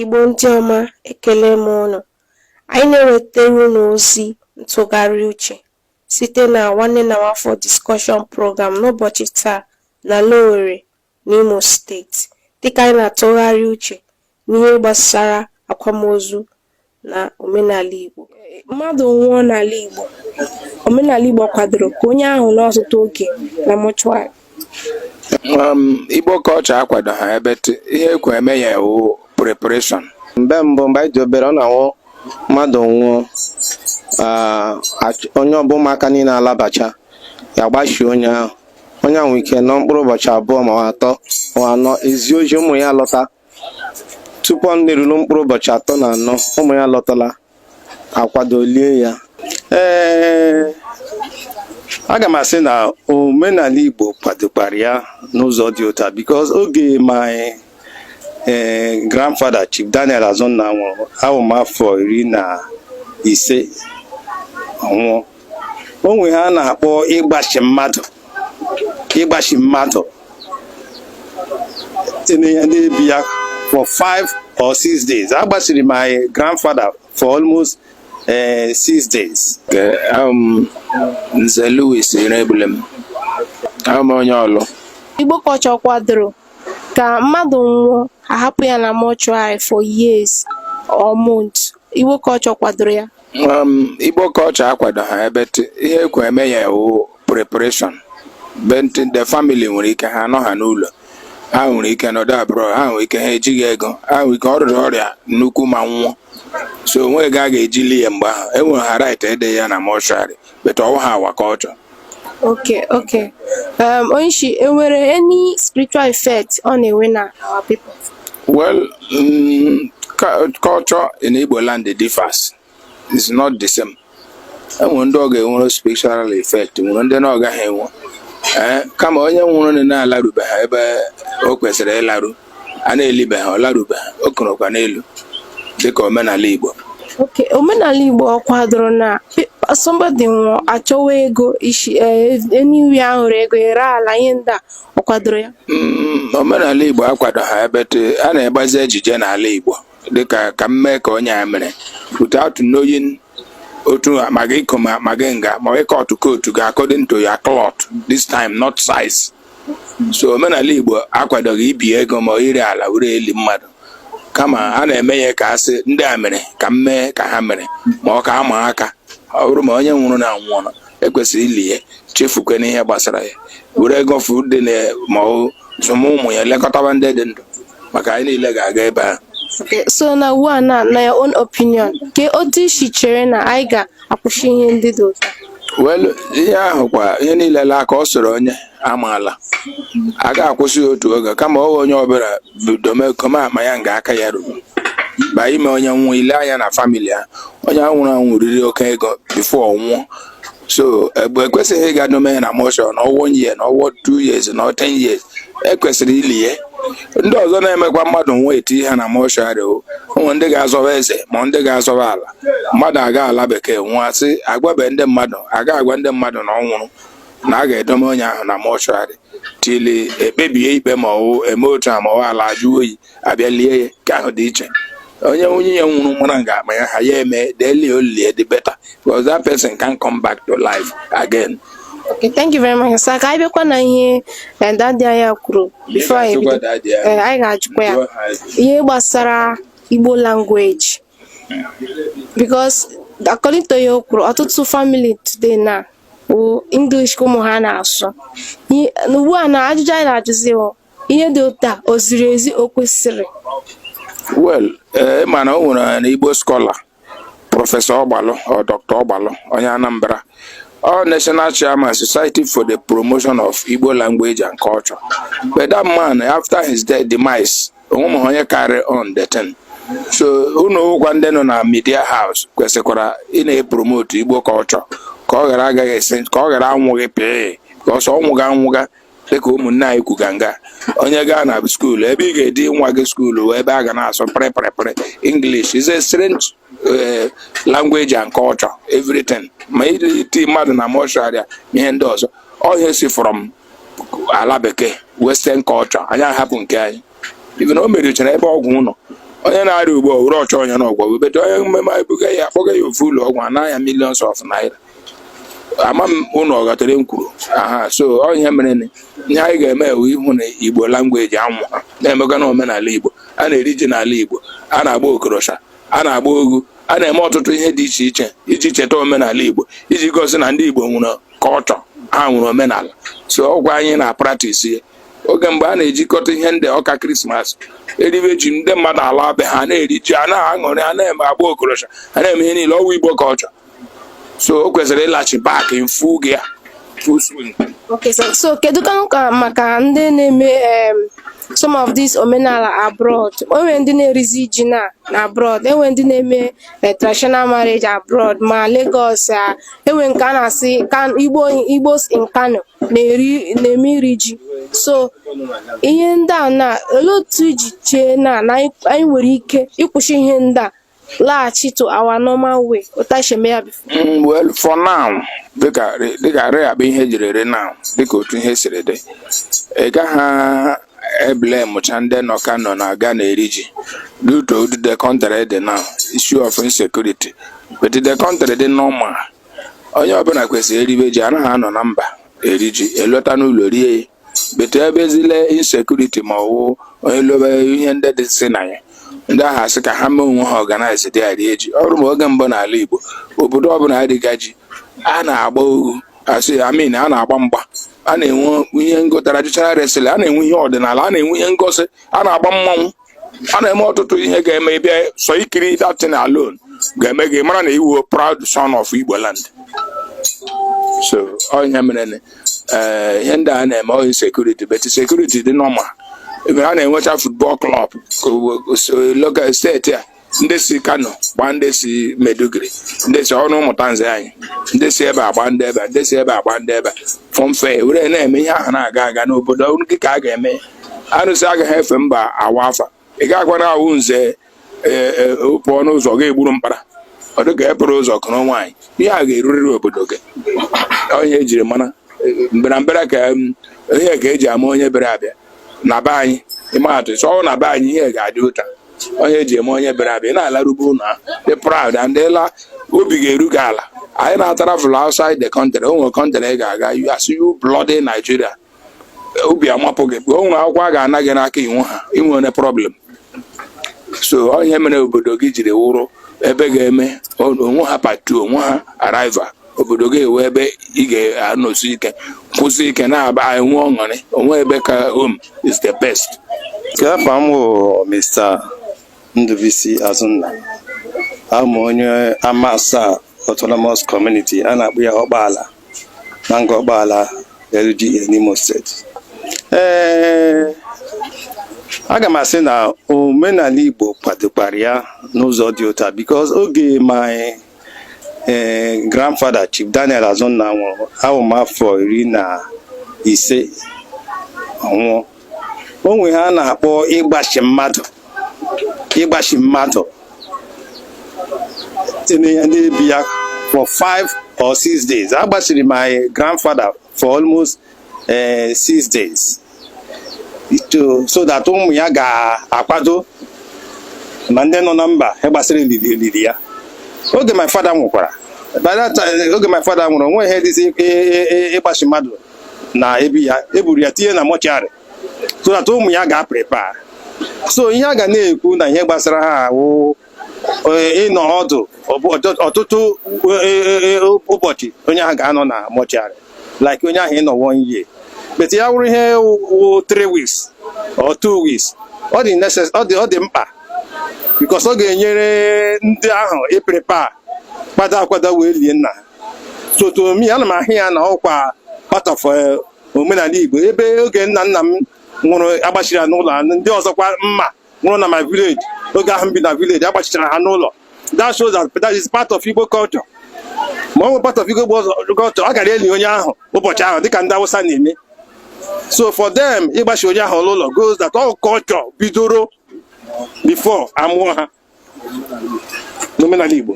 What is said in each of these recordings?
Igbo ndị ọma ekele m ụnụ anyị na-ewetara ụnụ ozi ntụgharị uche site na nwanne na nwafọ discussion program n'ụbọchị taa n'ala Owere n'Imo steeti dịka anyị na-atụgharị uche n'ihe gbasara akwamozu na omenala Igbo. Mmadụ nwụọ n'ala Igbo, omenala Igbo kwadoro ka onye ahụ nọ ọtụtụ oge na mọchụarị. Um, Igbo culture akwadoha but ihe ekwe eme ya wụ preparation. Mgbe mbụ mgbe anyị dị obere ọ na-awụ mmadụ nwụọ ah, onye ọbụ ụmụaka niile alabacha ya gbachie onye ahụ onye ahụ nwe ike nọ mkpụrụ ụbọchị abụọ ma atọ ma anọ ezie ozi ụmụ ya alọta tupu ọ na-eruru mkpụrụ ụbọchị atọ na anọ ụmụ ya alọtala akwadoo lie ya ee aga m asị na omenala Igbo kwadokwara ya n'ụzọ dị otu a because oge my grandfather Chief Daniel Azụnna nwụrụ awụ m afọ iri na ise ọ nwụọ o nwe ihe a na-akpọ ịgbachi mmadụ ịgbachi mmadụ tinye ya debe ya for five or six days agbachiri my grandfather for almost uh, six days. Um, Nze Louis Iregbulem ahm onye Ọlụ Igbo culture ọ kwadoro ka mmadụ nwụọ ahapụ ya na mọchụarị for years or months Igbo culture ọ kwadoro ya Um, Igbo culture akwadoha but ihe ekwe eme ya wụ preparation but the family nwere ike ha anọha n'ụlọ ha nwere ike nọdụ abroad ha nwere ike ha ejighị ego ha nwere ike ọ rịa ọrịa nnukwu ma nwụọ so onweghị ego a ga-eji lie ya mgbe ahụ enwere ha right idebe ya na mọshụarị but ọ wụha our culture Okay, okay. Um, Onyishi, enwere any spiritual effect ọ na-enwe na our people? well mm, cu- culture in igbo land differs is not the same enwere ndị ọ ga-enwere spiritual effect nwere ndị na ọ gaghị enwe ee kama onye nwụrụ na na-alarubeghị ebe o kwesịrị ịlaru a na-elibeghị ọlarubeghị o korokwa n'elu dịka omenala Igbo okay omenala Igbo ọ kwadoro na somebody nwụọ achọwa ego isi anywhere a hụrụ ego ere ala ihe ndị a ọ kwadoro ya mm, omenala Igbo akwadoha but a na-egbazi ejije n'ala Igbo dịka ka m mee ka onye a mere without knowing otu ma gị income gị nga ma ị cut your coat according to your cloth this time not size so omenala Igbo akwadoghị ibi ego ma ire ala were eli mmadụ kama a na-eme ya ka a sị ndị a mere ka m mee ka ha mere ma ọ ka ama aka ọ bụrụ ma onye nwụrụ na anwụọ e kwesịrị ili ya chefukwe n'ihe gbasara ya were ego fọdụrụnụ ma zụma ụmụ ya lekọtaba ndị dị ndụ maka anyị niile ga-aga ebe ahụ so na ugbu a na na your own opinion kee otu i si chere na anyị ga akwụsị ihe ndị dị otu a well ihe ahụ kwa ihe niile laa ka ọ soro onye amaala a ga-akwụsị ya otu oge kama ọ wụ onye ọbụla bido mee koma akpa ya nga aka ya ruru ba ime onye nwụọ i lee anya na family ya onye ahụ nwụrụ anwụ riri oke ego before ọ nwụọ so egbe ekwesịghị ịga dome na mọshụarị na ọ wụ one year na ọ wụ two years na ọ ten years e kwesịrị ili ya ndị ọzọ na-emekwa mmadụ nwa e tii ha na mọshụarị o ụmụ ndị ga-azọba eze ma ndị ga-azọba ala mmadụ aga ala bekee nwụọ a sị agwabeghị ndị mmadụ aga agwa ndị mmadụ na ọ nwụrụ na a ga-edome onye ahụ na mọshụarị till e kpebie ikpe ma ọ wụ e mee otu a ma ọ wụ ala ajụọ oyi a bịa lie ya ke ahụ dị iche onye nwunye ya nwụrụ mara nga akpa ya ha ya eme the earlier the better because that person can't come back to life again. Okay, thank you very much. Sir, ka anyị bịakwa na ihe eh, daddy anyị kwuru before anyị bido. Eh, anyị ga-ajụkwa ya ihe gbasara Igbo language. because according to ya o kwuru ọtụtụ family today na ọ wụ English ka ụmụ ha na-asụ Ihe- na ugbu a na ajụjụ anyị na-ajụzi wụ ihe dị otu a o ziri ezi o kwesịrị well ee mana o nwere an Igbo scholar Professor Ọgbalụ or Doctor Ọgbalụ onye Anambra ọ national chairman society for the promotion of igbo language and culture but that man after his death demise o nwemaghị onye carry on the thing so unu wụkwa ndị nọ na media house kwesịkwara ịna-epromote Igbo culture ka ọ ghara agaghị extinct ka ọ ghara anwụghị because ọ nwụga anwụga dịka ụmụnne anyị kwuga nga onye gaa na skuulu ebe ị ga-eti nwa gị skuulu ebe a ga na-asụ pịrịpịrịpịrị English is a strange eh, language and culture everything ma iti mmadụ na mọshụarị a na ihe ndị ọzọ ọ wụ ihe si from ala bekee western culture anyị ahapụ nke anyị even o merichara ebe ọgwụ ụlọ onye na-arịa ugbu a were ọchọ onye na ọgwụ webeta onye mmemme anyị buga ya akpọga ya ofu ụlọ ọgwụ anaa gị millions of naira ama m unu ọ ghọtara ihe m kwuru aha so ọ ihe mere na ihe anyị ga-eme wụ ịhụ na Igbo language anwụ ha na-emega na omenala igbo a na-eri ji n'ala igbo a na-agba okorosha a na-agba oghu a na-eme ọtụtụ ihe dị iche iche iji cheta omenala Igbo iji gosi na ndị Igbo nwere culture ha nwere omenala so ọ wụkwa anyị na-practise ya oge mgbe a na-ejikọta ihe ndị ọka Christmas e ribe ji ndị mmadụ ala be ha na-eri ji a na-aṅụrị a na-eme agba okorosha a na-eme ihe niile ọ wụ Igbo culture so o kwesịrị ịlachi back in full gear full swing Okay, so, so kedu ka ka maka ndị na-eme em, some of these omenala abroad o nwere ndị na-erizi ji na na abroad o nwere ndị na-eme eh, traditional marriage abroad ma Lagos ah, e nwere nke a na-asị Kan- Igbo Igbos in Kano na-eri na-eme iri ji so ihe ndị a na olee otu i ji chee na na anyị anyị nwere ike ịkwụsị ihe ndị a laghachi to our normal way otu anyị si eme ya before Mm, well for now dịka re- dịka re abụ ihe jiri ere now dịka otu ihe siri dị ị gaghị eblamụcha ndị nọ Kano na-aga na-eri ji due to ụdị the country dị now issue of insecurity but the country dị normal onye ọbụla kwesịrị eribe ji anaghị anọ na mba eri ji elọta n'ụlọ rie ya but ebezile insecurity ma ọ wụ onye lebe ihe ndị dị si na ya ndị ahụ asị ka ha mee onwe ha organize there rie ji ọ wụrụ ma oge mbụ n'ala Igbo obodo ọbụla eriga ji a na-agba ohu asị I mean a na-agba mgba a na-enwe ihe ngo- traditional wrestling a na-enwe ihe ọdịnala a na-enwe ihe ngosi a na-agba mmanwụ a na-eme ọtụtụ ihe ga-eme ị bịa sọ ikiri that thing alone ga-eme gị mara na ị wụ proud son of Igbo land so ọ ihe mere eh, ihe ndị a na-eme ọ insecurity but security dị normal ebe a na-enwecha football club local steeti a ndị si Kano gbaa ndị si Maiduguri ndị si ọnụ ụmụta nze anyị ndị si ebe a gbaa ndị ebe a ndị si ebe a gbaa ndị ebe a fọmfe were na-eme ihe ahụ na-aga aga n'obodo gị ka a ga-eme arụsị agaghị efe mba awa afa ị ga-agwara a wụ nze e, e, pụọ n'ụzọ ga-egburu mkpara ọ dị ka e pụrụ ụzọ kụrụ nwaanyị ihe a ga-erurịrị obodo gị ọ ihe e jiri mara mberambere ka ihe ka eji ama onye bịara abịa na be anyị ịma atụ chọọ na be anyị ihe ga-adị ụta o nwe ihe e ji ama onye bịara abịa ị na-alarube ụlọ ha dị proud and ịla obi ga-eru gị ala anyị na-atravel outside the country o nwere country ị ga-aga a sị you bloody Nigeria obi amapụ gị o nwere akwụkwọ a ga-ana gị n'aka i nweghị ya i nwere problem so ọ ihe mere obodo gị jiri wụrụ ebe ị ga-eme o nweghị part two o nweghị rival obodo gị wụ ebe ị ga-anọsi ike kwụsie ike na-aba enwe ọṅụrị o nweghị ebe ka home is the best Okay afa m bụ Mr. Ndubuisi Azụnna abụ m onye Amasaa autonomous community a na-akpọ ya Ọkpala na Ngor Ọkpala LGA n'Imo steeti ee aga m asị na omenala Igbo kwadokwara ya n'ụzọ dị ụta because oge my my grandfather Chief Daniel Azụnna nwụrụ awụ m afọ iri na ise ọ nwụọ o nwe ihe a na-akpọ ịgbachi mmadụ ịgbachi mmadụ tinye na ebi ya for five or six days agbachiri my grandfather for almost eh, six days so that ụmụ ya ga-akwado ma ndị nọ na mba ihe gbasara olili ya oge my father nwụkwara by that time oge my father nwụrụ o nwe ihe dịzi ịgbachi mmadụ na ebi ya eburu ya tinye na mortuary so that ụmụ ya ga-aprepare so ihe a ga na-ekwu na ihe gbasara ha awụ ịnọ ọdụ ọtụtụ ụbọchị onye ahụ ga-anọ na mortuary like onye ahụ ịnọ one year but ya wụrụ ihe wụ three weeks or two weeks ọ dị ọ dị mkpa because ọ ga-enyere ndị ahụ ịprepare kwado akwado wee lie nna ha so to me ana m ahụ ya na ọ wụkwa part of omenala Igbo ebe oge nna nna m nwụrụ agbachiri ya n'ụlọ ndị ọzọkwa m ma nwụrụ na my village oge ahụ m bi na village agbachichara ha n'ụlọ that shows that that is part of Igbo culture ma ọ wụghị part of Igbo culture a gara eli onye ahụ ụbọchị ahụ dịka ndị Awụsa na-eme so for them ịgbachi onye ahụ n'ụlọ gosi that ọ wụ culture bidoro before amụọ ha n'omenala Igbo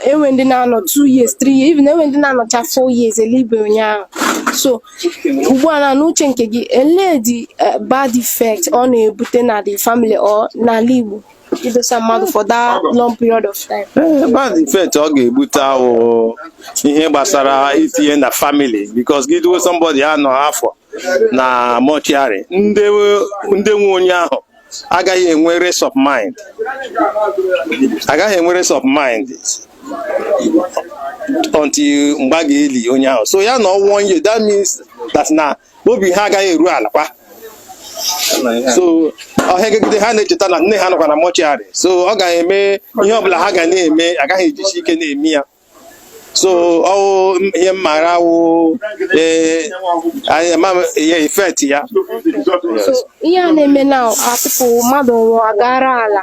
enwe ndị na-anọ 2 years 3 years even enwe ndị na-anọcha 4 years elibe onye ahụ so ugbu a na n'uche nke gị elee the eh, bad effect ọ na-ebute na the family or n'ala Igbo idosa mmadụ for that long period of time. Eh, bad effect ọ ga-ebute awụ ihe gbasara itinye na family because gị dowe somebody anọ afọ na mortuary ndị nwe onye ahụ agaghị enwe rest of mind agaghị enwe rest of mind until mgbe a ga-eli onye ahụ so ya nọọ one year that means that na obi ha agaghị eru ala kwa so ọ hịagide ha na-echeta na nne ha nọkwa na mortuary so ọ ga-eme ihe ọbụla ha ga na-eme agaghị ejisi ike na-eme ya so ọ wụ ihe m maara awụ ee effect ya So, ihe a na-eme na atụpụ mmadụ nwụọ aga ree ala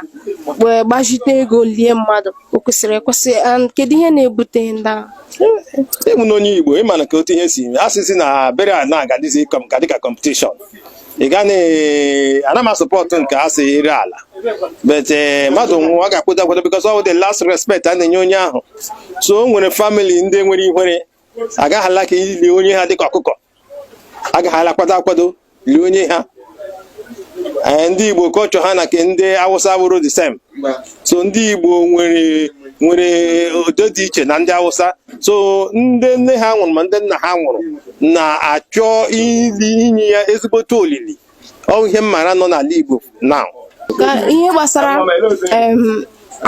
wee gbazite ego lie mmadụ o kwesịrị ekwesị and kedu ihe na-ebute ndị ahụ ị ma na onye Igbo ị ma na ka otu ihe si eme asịzị na burial na-agadịzi kọm ka dịka competition ị ga ana m asupport nke a sị ire ala but eh, mmadụ nwụọ a ga-akwado akwado because ọ wụ the last respect a na-enye onye ahụ so o nwere family ndị nwere ihere agaghị alike ili onye ha dịka ọkụkọ aga ha alike ịkwado akwado lie onye ha eh, ndị Igbo culture ha na ke ndị Awụsa awụghị the same so ndị Igbo nwere nwere odo dị iche na ndị Hausa so ndị nne ha nwụrụ ma ndị nna ha nwụrụ na-achọ ili inye ya ezigbote olili ọ wụ ihe m mara nọ n'ala Igbo na ihe gbasara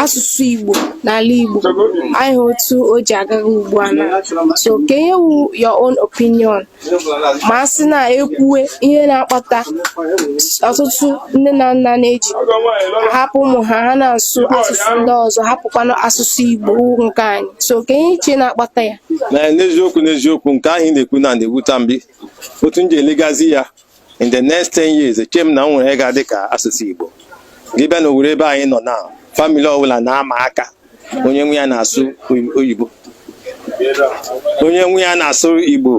asụsụ Igbo n'ala Igbo anyị otu o ji agagha ugbu a na so kee ihe wụ your own opinion ma a sị na e kwuwe ihe na-akpata ọtụtụ nne na nna na-eji hapụ ụmụ ha ha na-asụ asụsụ ndị ọzọ hapụkwanụ asụsụ Igbo nke anyị so kee ihe i che na-akpata ya n'eziokwu n'eziokwu nke ahụ ị na-ekwu na na-ewuta m obi otu m ji elegazi ya in the next 10 years eche m na e nwere ga-adị ka asụsụ Igbo gị bịa na Owerri ebe anyị nọ na family ọbụla na-ama aka onye nwa ya na-asụ oyibo onye nwa ya na-asụ Igbo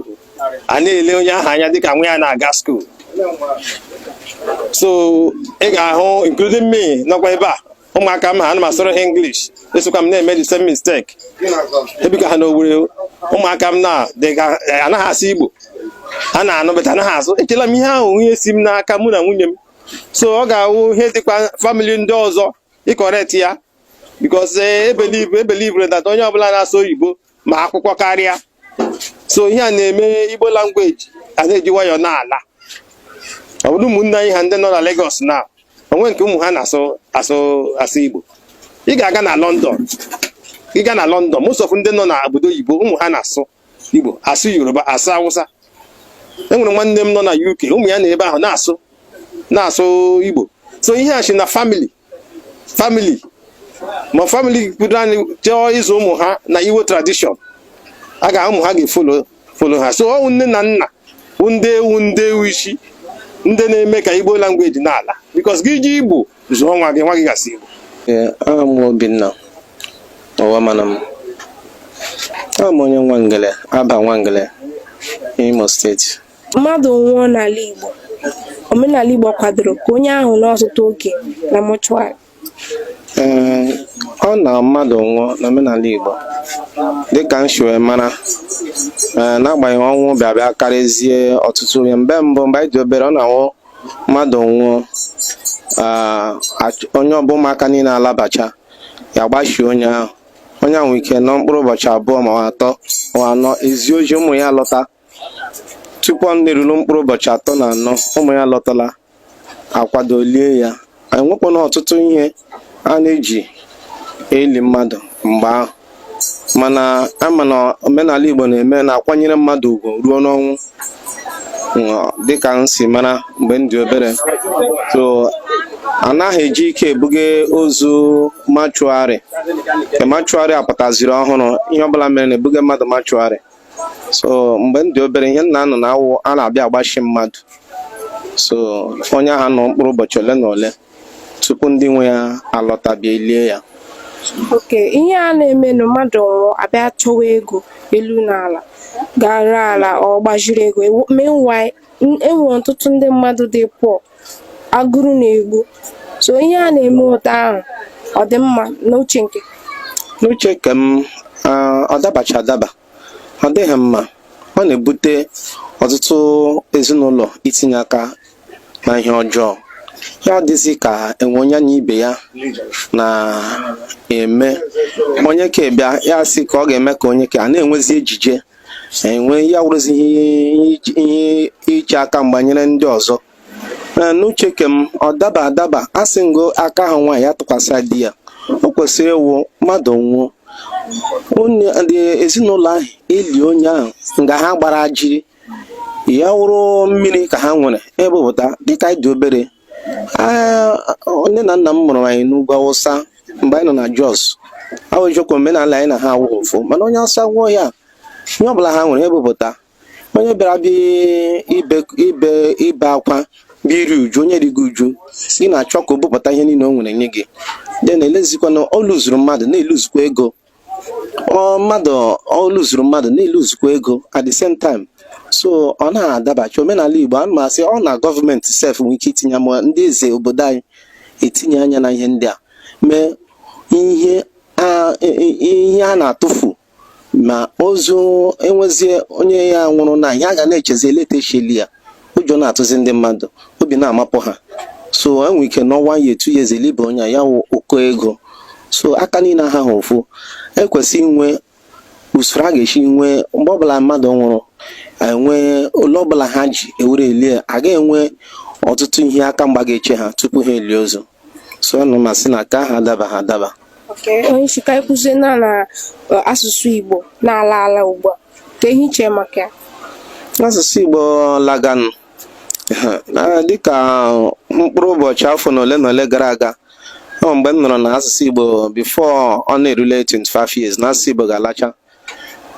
a na-ele onye ahụ anya dịka nwa ya na-aga school so ị ga-ahụ including me nọkwa ebe a ụmụaka m ha ana m asụrụ ha English esokwa m na-eme the same mistake ebiga ha n'Owerri ụmụaka m na-anaghị asụ Igbo ha na-anụ but anaghị asụ echela m ihe ahụ ihe si m n'aka mụ na nwunye m so ọ ga-awụ ihe dịkwa family ndị ọzọ ịcorrect ya because e believere that onye ọbụla na-asụ oyibo ma akwụkwọ karịa so ihe a na-eme Igbo language a na-eji nwayọọ na-ala ọ bụrụ ụmụnne anyị ha ndị nọ na Lagos na o nwe nke ụmụ ha na-asụ asụ asụ igbo ị ga-aga na London ị ga na London most of ndị nọ na obodo oyibo ụmụ ha na-asụ igbo asụ yoruba asụ awụsa enwere nwanne m nọ na UK ụmụ ya na ebe ahụ na-asụ na-asụ igbo so ihe a si na family family ma family bido anyị chọọ ịzụ ụmụ ha na Igbo tradition a ga ụmụ ha ga-efollow follow ha so ọ wụ nne na nna bụ ndị wụ ndị wụ isi ndị na-eme ka Igbo language na-ala because gị ji igbo zụọ nwa gị nwa gị ga-asụ Igbo aha m wụ Obinna Ụwa mana m awụ m onye Nwangele Abba Nwangele Imo steeti Mmadụ nwụọ n'ala Igbo, omenala Igbo kwadoro ka onye ahụ nọ ọtụtụ oge na mortuary. Ee, ọ na mmadụ nwụọ n'omenala Igbo dịka m si wee mara ee, n'agbanyeghị ọnwụ bịa bịa karịzie ọtụtụ ihe mgbe mbụ mgbe anyị dị obere ọ na-awụ mmadụ nwụọ aa, ach- onye ọ bụ ụmụaka niile alabacha ya gbachie onye ahụ onye ahụ nwere ike nọ mkpụrụ ụbọchị abụọ ma ọ atọ ma ọ anọ e zie ozi ụmụ ya lọta tupu ọ na-eruru mkpụrụ ụbọchị atọ na anọ ụmụ ya lọtala akwadoo lie ya enwekwana ọtụtụ ihe a na-eji eli mmadụ mgbe ahụ mana ama na omenala Igbo na-eme na-akwanyere mmadụ ugwu ruo n'ọnwụ dịka m si mara mgbe m dị obere so anaghị eji ike ebuga ozu mortuary ke mortuary a pụtaziri ọhụrụ ihe ọbụla mere na-ebuga mmadụ mortuary so mgbe m dị obere ihe m na-anụ na-awụ a na-abịa agbashi mmadụ so onye ahụ nọ mkpụrụ ụbọchị ole na ole tupu ndị nwe ya alọta bịa lie ya okay ihe a na-eme na mmadụ nwụọ a bịa chọwa ego elu na ala ga ree ala or gbaziri ego meanwhile enwere ọtụtụ ndị mmadụ dị poor agụrụ na-egbu so ihe a na-eme ụta ahụ ọ dị mma n'uche nke n'uche nke m ọ dabacha adaba ọ dịghị mma ọ na-ebute ọtụtụ ezinụlọ itinye aka na ihe ọjọọ ya dịzi ka enwe onye na ibe ya na-eme onye ke a bịa ya sị ka ọ ga-eme ka onye ke a na-enwezi ejije enwe ya wụrụzi ihe iche aka mgba nyere ndị ọzọ n'uche ke m ọ daba adaba a sị nga aka ha nwaanyị ya atụkwasị di ya o kwesịrị ịwụ mmadụ nwụọ ndị ezinụlọ ahụ eli onye ahụ nga ha gbara jiri ya wụrụ mmiri ka ha nwere ebupụta dịka anyị dị obere nne na nna m mụrụ anyị n'ugwu Awụsa mgbe anyị nọ na Jos ọ wụ eziokwu omenala anyị na ha awụghị ofu mana onye Awụsa nwụọ ya ihe ọbụla ha nwere ebupụta onye bịara bịa ibe ibe ibe akwa bịa iri uju onye rigo uju ị na-achọ ka o bupụta ihe niile o nwere nye gị then na-elezikwa na o luzuru mmadụ na-eluzukwa ego ọ mmadụ o luzuru mmadụ na-eluzukwa ego at the same time so ọ na-adabacha omenala Igbo ana m asị ọ na gọọmenti sef nwere ike itinye ma ndị eze obodo anyị etinye anya na ihe ndị a mee ihe a e, e, ihe a na-atụfu ma ozu enwezie onye ya nwụrụ na ihe a ga na-echezi elee etu e si eli ya ụjọ na-atụzi ndị mmadụ obi na-amapụ ha so e nwere ike nọọ one year two years elibe onye ya wụ ụkọ ego so aka niile ahaha ofu ekwesị inwe usoro a ga-esi nwee mgbe ọbụla mmadụ nwụrụ enwee ole ọbụla ha ji ewere elie aga enwe ọtụtụ ihe aka mgba ga-eche ha tupu ha elie ozu so ana m asị na ke ahụ adabaha adaba onye isi ka anyị na na e, asụsụ Igbo na-ala ala ugbu a kee ihe i che maka ya asụsụ Igbo laganụ dịka mkpụrụ ụbọchị afọ na ole na ole gara aga ọ mgbe m nụrụ na asụsụ Igbo before ọ na-erule 25 years na asụsụ Igbo ga-alacha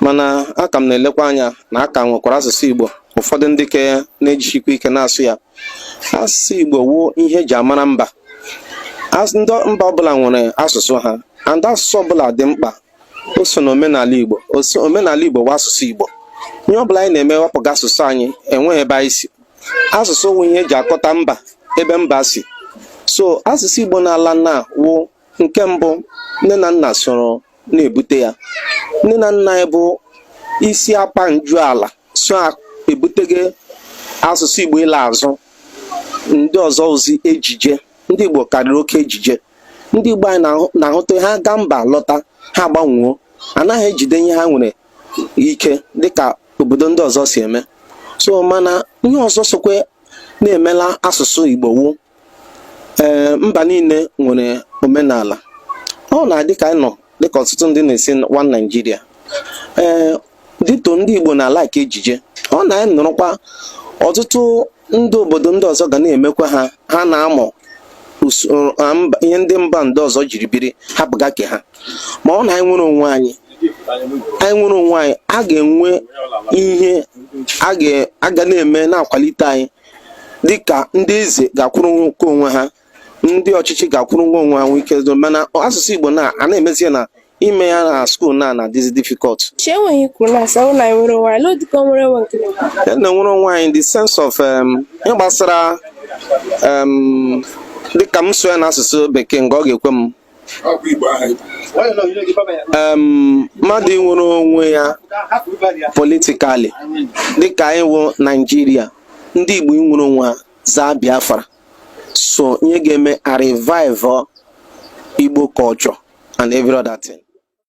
mana a ka m na-elekwa anya na a ka nwekara asụsụ Igbo ụfọdụ ndị ke na-ejisikwa ike na-asụ ya asụsụ Igbo wụ ihe eji amara mba ndị mba ọbụla nwere asụsụ ha and asụsụ ọbụla dị mkpa o so na omenala Igbo omenala Igbo wụ asụsụ Igbo ihe ọbụla anyị na-eme wepụga asụsụ anyị enweghị ebe anyị si asụsụ wụ ihe eji akọta mba ebe mba si so asụsụ Igbo na-ala na wụ nke mbụ nne na nna soro na-ebute ya nne na nna anyị bụ isi akpa nju ala so ebutege asụsụ Igbo ịla azụ ndị ọzọ wụzi ejije ndị Igbo karịrị oke ejije ndị Igbo anyị na-ahụta ha gaa mba lọta ha agbanwuo anaghị ejide ihe ha nwere ike dịka obodo ndị ọzọ si eme so mana ihe ọzọ sokwa na-emela asụsụ Igbo wụ ee mba niile nwere omenala ọ na-adị ka anyị nọ dịka ọtụtụ ndị na-asị one Naịjirịa ee dịto ndị Igbo na-ala ka ejije ọ na anyị nọrọkwa ọtụtụ ndị obodo ndị ọzọ ga na-emekwa ha ha na-amụ ihe ndị mba ndị ọzọ jiri biri hapụga ke ha ma ọ na anyị nwere onwe anyị anyị nwere onwe anyị a ga-enwe ihe a ga na-eme na-akwalite anyị dịka ndị eze ga-akwụrụ nke onwe ha ndị ọchịchị ga-akwụrụ nwa onwe ha nwee ike mana asụsụ Igbo na a na-emezie na ime ya na skuul na na-adịzi difficult na-enwere onwe anyị in the sense of um, ihe gbasara um, dịka m sụọ ya na asụsụ bekee nga ọ ga-ekwe m mmadụ inwere onwe ya politically dịka anyị wụ naijiria ndị igbo inwere onwe ha zaa biafra so ihe ga-eme a revive igbo culture and every other thing